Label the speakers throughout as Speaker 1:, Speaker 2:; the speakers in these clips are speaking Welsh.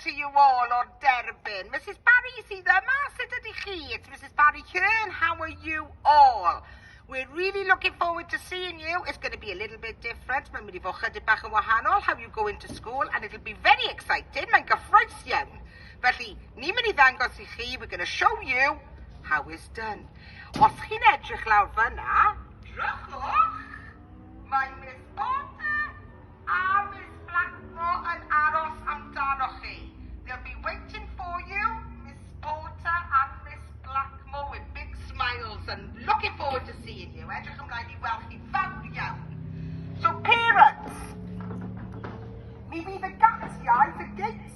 Speaker 1: to you all o'r derbyn. Mrs Barry sydd yma, sut ydy chi? It's Mrs Barry Hearn, how are you all? We're really looking forward to seeing you. It's going to be a little bit different. Mae'n mynd i fod chydig bach yn wahanol. How you go into school and it'll be very exciting. Mae'n gyffroes iawn. Felly, ni'n mynd i ddangos i chi, we're gonna show you how it's done. Os chi'n edrych lawr fyna, drychwch, mae Miss Porter a Miss Blackmore yn aros amdano chi. They'll be waiting for you, Miss Porter and Miss Blackmore, with big smiles and looking forward to seeing you. Edrych ymlaen i weld chi fawr iawn. So parents, mi fydd y gatiau, the gates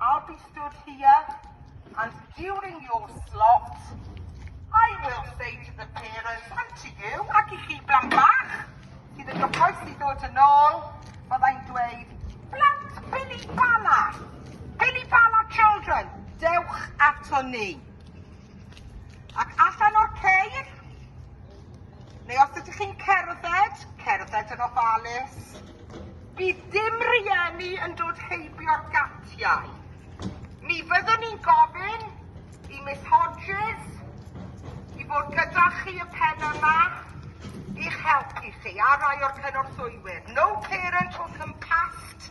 Speaker 1: I'll be stood here and during your slot I will say to the parents and to you, ac i chi blant bach, sydd yn gyffroes i ddod yn ôl, byddai'n dweud, blant Billy Bala, Billy Bala children, dewch ato ni. Ac allan o'r ceir, neu os ydych chi'n cerdded, cerdded yn ofalus. Bydd dim rieni yn dod heibio'r gatiau. Mi fyddwn ni'n gofyn i Miss Hodges i fod gyda chi y pen yma i'ch helpu chi a rai o'r cynorthwywyr. No parent will come past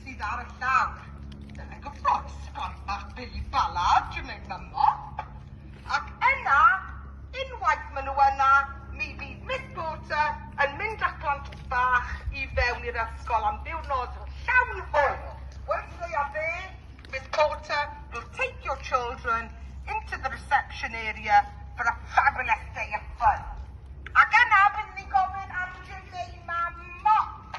Speaker 1: sydd ar y llawr. Dyna gwybod, sgwâr bach Billy Ballard dwi'n ei mymo. Ac yna, unwaith maen nhw yna, mi fydd Miss Porter yn mynd â plant bach i fewn i'r ysgol am ddiwrnod llawn hwyl. Weithiau a fe, Miss Porter will take your children into the reception area for a fabulous day of fun. Ac yna, byddwn ni'n gofyn am Jim neu Mam Mop.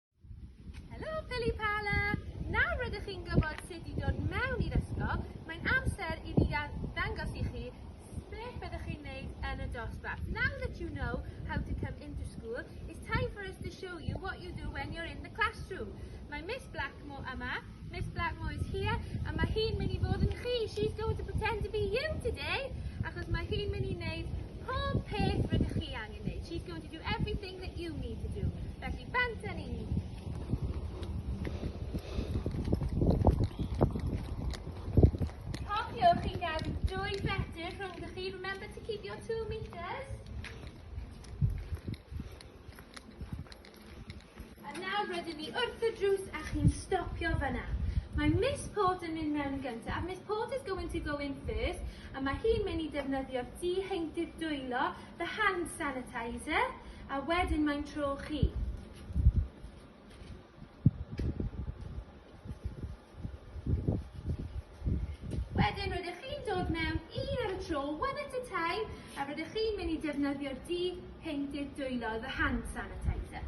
Speaker 1: Helo Pili Pala! Nawr rydych chi'n gwybod sut i dod mewn i'r ysgol, mae'n amser i fi ddangos i chi beth byddwch chi'n neud yn y dosbarth. Now that you know how to come into school, it's time for us to show you what you do when you're in the classroom. Mae Miss Blackmore yma Miss Blackmore is here and mae hi'n mynd i fod yn chi. She's going to pretend to be you today achos mae hi'n mynd i wneud pob peth rydych chi angen wneud. She's going to do everything that you need to do. Felly, banta ni. Cofiwch i gadw dwy fetr rhwng chi. Remember to keep your two metres. A nawr rydyn ni wrth y drws a chi'n stopio fyna. Mae Miss Port yn mynd mewn yn gyntaf. Miss Port is going to go in first a mae hi'n mynd i defnyddio'r diheintydd dwylo, the hand sanitizer, a wedyn mae'n tro chi. Wedyn rydych chi'n dod mewn un ar y tro, one at a time, a rydych chi'n mynd i defnyddio'r du painted dwylo, the hand sanitizer.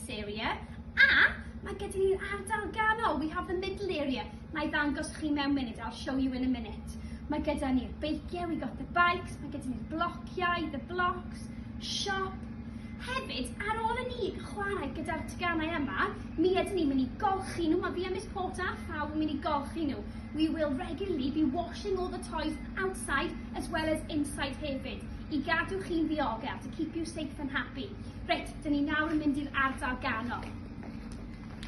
Speaker 1: this area, a mae gyda ni'r ardal ganol, we have the middle area. Na i ddangos chi mewn munud, I'll show you in a minute. Mae gyda ni'r beigiau, we got the bikes, mae gyda ni'r blociau, the blocks, shop. Hefyd, ar ôl i ni chwarae gyda'r teganau yma, mi ydyn ni'n mynd i golchi nhw, mae fi a Miss Porter a Llaw yn mynd i golchi nhw. We will regularly be washing all the toys outside as well as inside hefyd, i gadw chi'n ddiogel, to keep you safe and happy. Reit, Dyn ni nawr yn mynd i'r ardal ganol.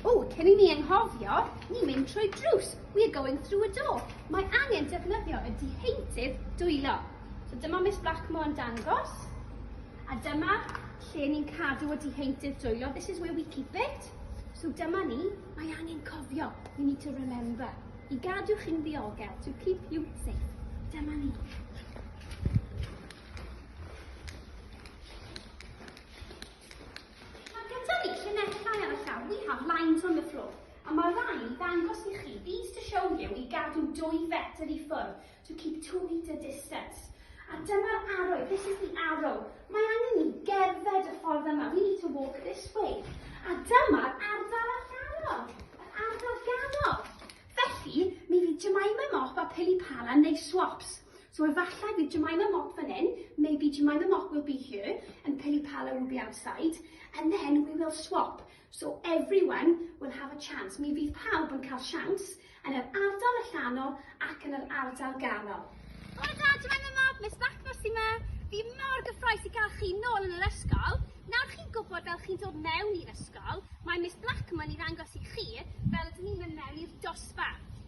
Speaker 1: O, cyn i ni enghofio, ni'n mynd trwy drws. We are going through a door. Mae angen defnyddio y diheintydd dwylo. So dyma Miss Blackmore yn dangos. A dyma lle ni'n cadw y diheintydd dwylo. This is where we keep it. So dyma ni, mae angen cofio. You need to remember. I gadw chi'n ddiogel, to keep you safe. Dyma ni. Mae gyda ni llinellau ar y llawr, we have lines on the floor, a mae rhain i ddangos i chi, these to show you, i gadw dwy fetr i ffwrdd, to keep two metre distance. A dyma'r arrow, this is the arrow. Mae angen ni gerdded y ffordd yma, we need to walk this way. A dyma'r ardal allanol, yr ardal ganol. Felly, mi fydd Jemima Mop a Pili Palan neu Swops. So efallai bydd Jemima Mop fan hyn, maybe Jemima Mop will be here, and Pili Pala will be outside, and then we will swap. So everyone will have a chance. Mi fydd pawb yn cael siawns yn yr ardal allanol ac yn yr ardal ganol. Hwyl da, Jemima Mop, Miss Blackmore sy'n ma. Fi mor gyffroes i gael chi nôl yn yr ysgol. Nawr chi'n gwybod fel chi'n dod mewn i'r ysgol, mae Miss Blackmore i ddangos i chi fel ydyn ni'n mynd mewn i'r dosbarth.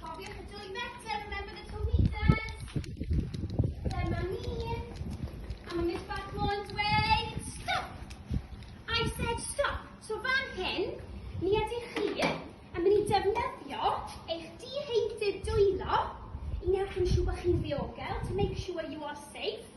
Speaker 1: Cofiwch y dwy metr, remember the two meters. Dyma ni. A mae Miss Bartmore yn dweud, stop! I said stop. So fan hyn, ni ydych chi yn mynd i defnyddio eich diheintydd dwylo i wneud yn siŵr bod chi'n ddiogel, to make sure you are safe.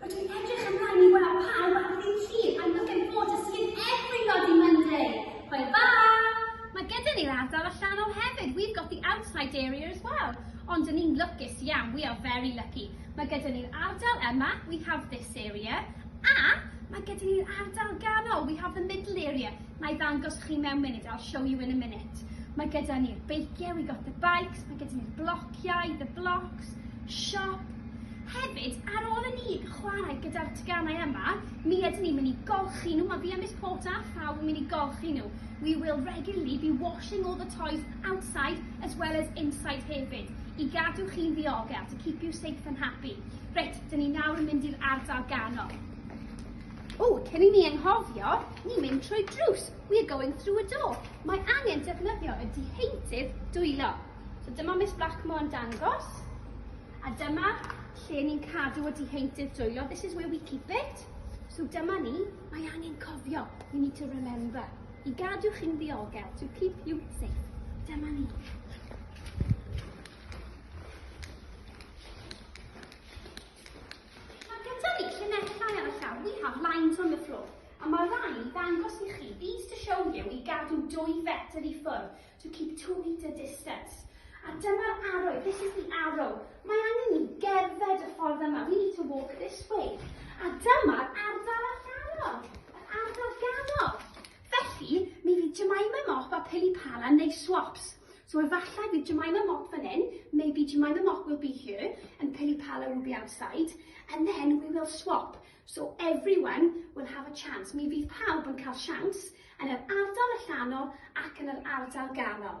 Speaker 1: Rydw i'n edrych ymlaen i weld pawb ar ddydd Llun, I'm looking forward to seeing everybody Monday! Hwyl fawr! Mae gyda ni'r ardal allanol hefyd, we've got the outside area as well. Ond yn ni'n lwcus iawn, we are very lucky. Mae gyda ni'r ardal yma, we have this area, a mae gyda ni'r ardal ganol, we have the middle area. Na i ddangos chi mewn munud, I'll show you in a minute. Mae gyda ni'r beiciau, we got the bikes, mae gyda ni'r blociau, the blocks, Siop. Hefyd, ar ôl i ni chwarae gyda'r teganau yma, mi ydyn ni'n mynd i golchi nhw. Mae fi a Miss Porter a phawb yn mynd i golchi nhw. We will regularly be washing all the toys outside as well as inside hefyd, i gadw chi'n ddiogel, to keep you safe and happy. Reit, dyn ni nawr yn mynd i'r ardal ganol. O, cyn i ni enghofio, ni'n mynd trwy drws. We are going through a door. Mae angen defnyddio y diheintydd dwylo. So dyma Miss Blackmore yn dangos, a dyma lle ni'n cadw y diheintydd dwylo. This is where we keep it. So dyma ni, mae angen cofio, you need to remember, i gadw chi'n ddiogel, to keep you safe. Dyma ni. Mae gyda ni llinellau ar y llawr, we have lines on the floor. A mae rhai i ddangos i chi, these to show you, i gadw dwy fetr i ffwrdd. to keep two metre distance, a dyma'r arrow, this is the arrow, mae angen ni gerdded y ffordd yma, we need to walk this way, a dyma'r ardal allanol, yr ardal ganol. Felly, mi fydd Jemima Mop a Pili Pala yn neud swaps. So efallai bydd Jemima Mop fan hyn, maybe Jemima Mop will be here, and Pili Pala will be outside, and then we will swap. So everyone will have a chance. Mi fydd pawb yn cael siawns, yn yr ardal allanol ac yn yr ardal ganol.